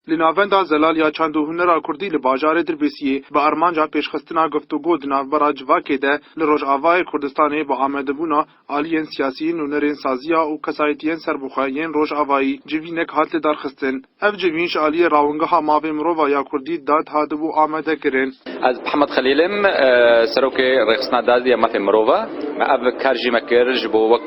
Li Navenda Zelal ya Çand û Hunera Kurdî li bajarê Dirbêsiyê bi armanca pêşxistina guftûgo di navbera civakê de li Rojavayê Kurdistanê bi amadebûna aliyên siyasî, nûnerên saziya û kesayetiyên serbixwe yên Rojavayî civînek hat lidarxistin. Ev civîn ji aliyê rawingeha mavên mirova ya Kurdî, dad, hatibû amadekirin. Ez Hemed Xelîl im, Serokê Rêxistina Dadê ya Mafên Mirov e. Me ev kar jî me kir ji bo wek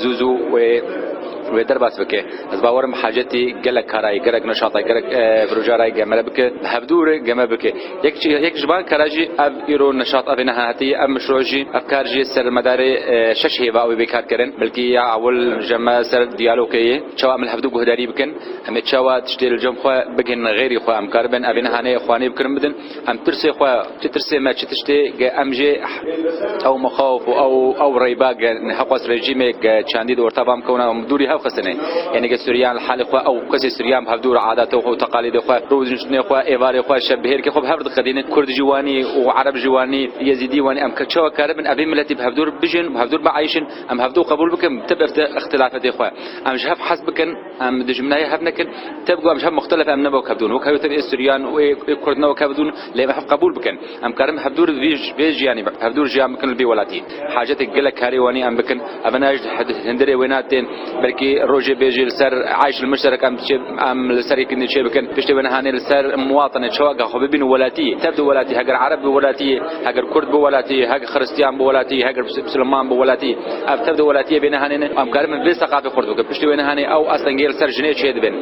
Zû zû wê wê derbas bike. Ez bawer im Hacetî gelek karayê, gelek neşatayê, gelek berojarayê gemre bike. Bi hevdû re geme bike. Yek ji yek ji van kara jî ev îro neşat ev ê nehatî ev mişro jî ev kar jî ser medarê şeş hêva wê kar kirin. Belkî ya ewil ji me ser diyalogê yê. Çawa em li hevdû guhdarî bikin. Em ê çawa tiştê li cem xwe bigihînin xêrî xwe. Em karibin ev ê nehanê xwanê bi kirin bidin. Em tirsê xwe, çi tirsê me çi tiştê ge em jê ew mixawif û ew ew reyba ge nexwest rejîmê ge çandî di orta vam kewna em dûrî hev xistinê. Yanî ge Sûriyan li halê xwe ew kesê Sûriyan bi hevdûr adatê xwe û teqalîdê xwe, rûdiniştinê xwe, êvarê xwe, şebihêrkê xwe bi hev diqedînin. Kurd jî wanî û Ereb jî wanî, Yezîdî wanî em çawa karibin evî miletî bi hevdûr bijîn, bi hevdûr bieyşin? Em hevdû qebûl bikin tib ixtilafetê xwe. Em ji hev hez bikin. Em dijminayê hev nekin, tevku em ji hev muxtelef em nevo kevdûn. Wek hewl tevî ê Sûriyan û ê Kurd nevo kevdûn lê em hev qebûl bikin. Em karin hevdûr vî vê jiyanî hevdûr jiyan bikin li bî welatî. Hajetê gelek karê wanî em bikin. Ev ne ji hindirê wêna tên. Belkî rojê bê jî li ser eyş li Murserek em çê em li ser yekî nê çê bikin. Piştê wê niha nê li ser muwatinê çawa ke xwe bibînin welatî. Tev di welatî heger ereb bi welatî, heger kurd bi welatî, heger xiristiyan bi welatî, heger misileman bi welatî. Ev tev di welatiyê bê nihanê ne. Em karin min vê seqafê xurt bikin. Piştî wê nihanê ew astengê li ser jinê çê dibin.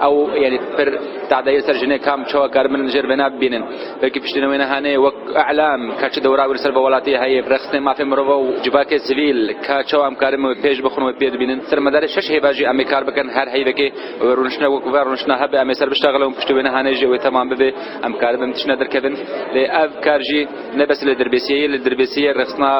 Ew yanî pir tadeyê li ser jinê kam çawa karin min li jêr vê na bibînin. Belkî piştî ne wê nihanê wek îlam ka çi dewra wî li ser vê welatiyê heye, rêxistinên mafên mirova û civakê sivîl ka çawa em karin min wê pêş bixin û wê pê dibînin. Li ser medarê şeş hêva jî em ê kar bikin. Her heyvekê wê rûniştinek wek ve rûniştina hebe em ê ser biştaxilin û piştî wê nihanê jî wê temam bibe. Em karin min tiştine derkevin. Lê ev kar jî. Ne bes li dirbêsiyê yê, li dirbêsiyê rexistina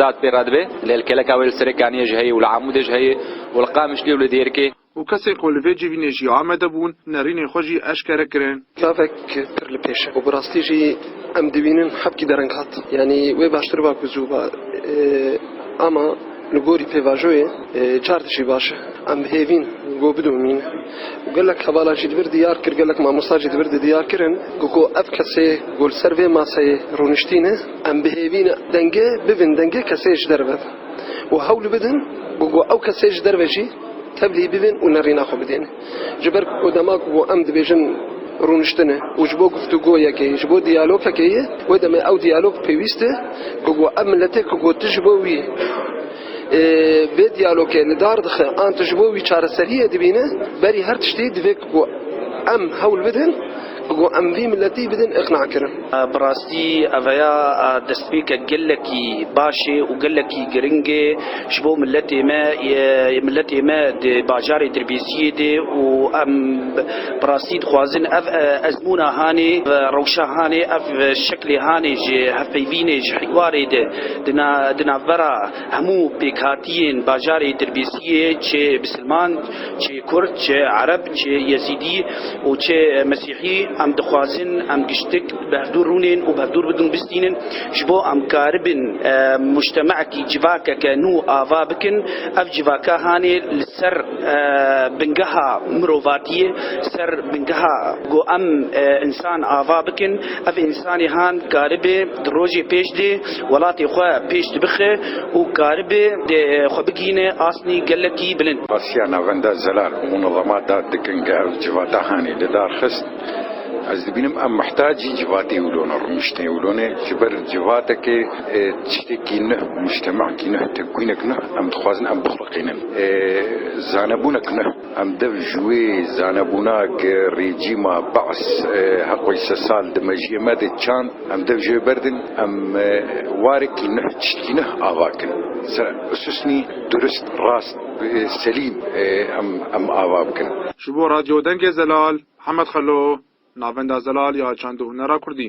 dad pê re dibe. Lê li keleka wê li Serekaniyê jî heye û li Amûdê jî heye û li Qamişliyê û li Dêrikê. Û kesên ku li vê civînê jî amade bûn, nerînên xwe jî eşkere kirin. Çavek pir li pêş e û bi rastî jî em dibînin hepkî dereng hat. Yanî wê baştir ba ku zû ba. Ama. Li gorî pêvajoyê çar tiştî baş e. Em hêvîn ku bidomîn. Gelek hevala jî di vir diyar kir, gelek mamosta jî di vir di diyar kirin ku ev kesê ku li ser vê maseyê rûniştîne em bi hêvî ne dengê bibin dengê kesê ji derve û hewl bidin ku ew kesê ji derve jî tevlî bibin û nerîna xwe bidên. Ji ber ku dema ku em dibêjin rûniştin e û ji bo guftûgo yekê ye, ji bo diyalog fekê ye, wê demê ew diyalog pêwîst e ku ku ev miletê ku ku tu ji bo wî vê diyalogê li dar dixe an tu ji bo wî çareseriyê dibîne, berî her tiştî divê ku ku em hewl bidin, Got em vî miletî bidin îqnakirin. Bi rastî aveya destpêkek gelekî baş ê û gelekî giring ê ji bo miletê me. Miletê me di bajarê Dirbêziyê de û em bi rastî dixwazin ev ezmûna hanê, rewşa hanê, ev şeklê hanê ji hevpeyvînê ji hwarê de di navbera Hemû pêkhatiyên bajarê Dirbêsiyê çi bi silman, çi kurd, çi ereb, çi yezîdî û çi mesîhî em dixwazin em giştik bi hevdûr rûnên û bi hevdûr bidin û bistînin. Ji bo em karibin mûctemekî civakeke nû ava bikin ev civaka hanê li ser bingeha mirovatiyê li ser bingeha ku em însan ava bikin ev însanê han karibe Di rojê pêş dê welatê xwe pêş dibixe û karibe xwe bigihîne asnî gelekî bilind. Asiya Navenda Zelal û munezemat dad dikin ke ev civata hanê li dar xist. Ez dibînim em mihtacî civatê wilo ne, rûniştên wilo ne. Ji ber civatekê tiştekî nuh, mûctemekî nuh, tevkûynek nuh em dixwazin em bixuliqînin. Zanebûnek nuh. Em dev ji wê zanebûna ke rejîma Ba's heqoy sesal di mejiyê me de çand, Em dev jê berdin, em warekî nuh tiştekî nuh ava kin. Ser usûsnî durist, rast, selîm em em ava bikin. Ji bo Radyo Dengê Zelal, Hemed Xelo, Navenda Zelal ya Çand û Hunera Kurdî.